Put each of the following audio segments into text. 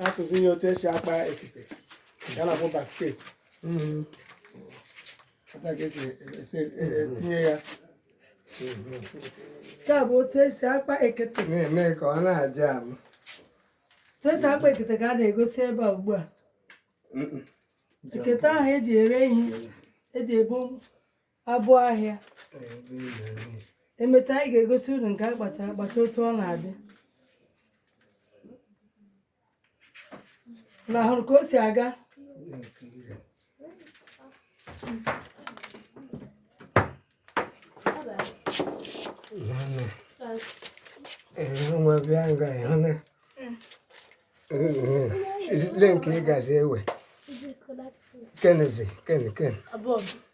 akụzi ya otu esi akpa ekete ya na-abụ basket Ebe a ka esi esi- e- e- tinye ya nke a bụ otu esi akpa ekete na-eme ka ọ na-aja ahụ otu esi akpa ekete ka a na-egosi ebe a ugbu a ekete ahụ eji ere ihe eji ebu abụ ahịa emechaa anyị ga-egosi unu nke akpachara akpacha otu ọ na-adị na-ahụrụ ka o si aga nwa bịa nga ịhụ na ile nke ị gazi ewe kenezi ken ken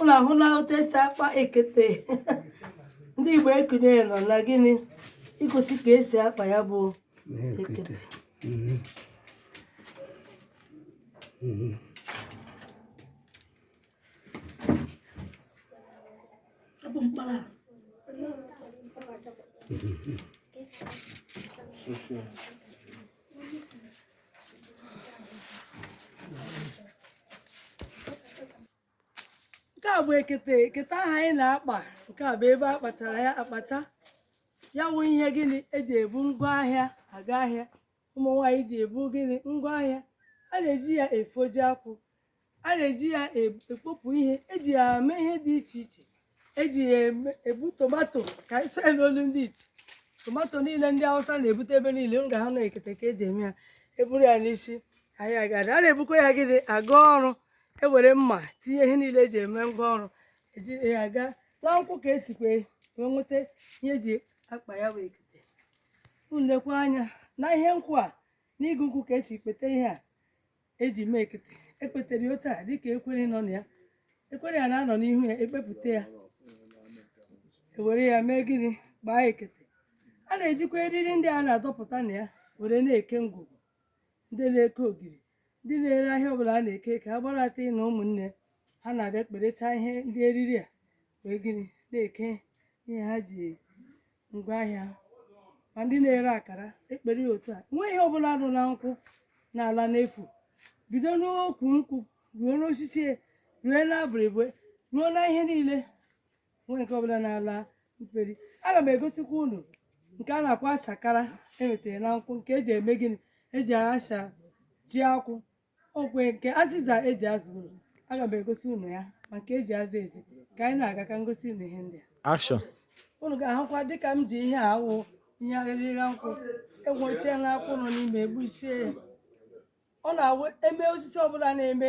Unu ahụla otu esi akpa ekete ndị Igbo ekunye nọ na gịnị igosi ka esi akpa ya bụ ekete nke a bụ ekete ekete ahụ anyị na-akpa nke a bụ ebe a kpachara ya akpacha ya wụ ihe gịnị eji ebu ngwa ahịa aga ahịa ụmụ nwaanyị ji ebu gịnị ngwa ahịa a na-eji ya efoji akwụ a na-eji ya e- ekpopụ ihe eji ya eme ihe dị iche iche eji ya eme- ebu tomato ka anyị sịa n'olu ndị ite tomato niile ndị Awụsa na-ebute ebe niile ị ga-ahụ na ekete ka eji eme ya eburu ya n'isi anyị agada a na-ebukwa ya gịnị aga ọrụ ewere mma tinye ihe niile eji eme ngwa ọrụ eji ya aga na nkwụ ka esikwa wee nweta ihe eji akpa ya bụ ekete unu lekwa anya na ihe nkwụ a na igu nkwụ ka esi kpete ihe a eji mee ekete ekpetere ya otu a dịka ekwere nọ na ya ekwere ya na-anọ n'ihu ya ekpepụta ya ewere ya mee gịnị kpaa ekete a na-ejikwa eriri ndị a na-adọpụta na ya were na-eke ngwugwu ndị na-eke ogiri ndị na-ere ahịa ọbụla a na-eke ka a gbarata na ụmụnne ha na-abịa kperechaa ihe ndị eriri a wee gịnị na-eke ihe ha ji ngwa ahịa ma ndị na-ere akara ekpere ya otu a nweghị ihe ọbụla nọ na nkwụ na-ala n'efu bido n'ukwu nkwụ ruo n'osisi ruo n'abụrịbụ ruo na ihe niile nweghị nke ọbụla na-ala mperi aga m egosikwa unu nke a na-akpọ achakara enwetara na nkwụ nke eji eme gịnị eji acha ji akwụ ọ wụ nke azịza eji aza ụlọ aga m egosi unu ya ma nke eji aza ezi ka anyị na-aga ka ngosi unu ihe ndị a unu ga-ahụkwa dịka m ji ihe a wụ ihe arịrịra nkwụ egbuchie na akwụ nọ n'ime egbuchie ya ọ na-awụ eme osisi ọbụla na-eme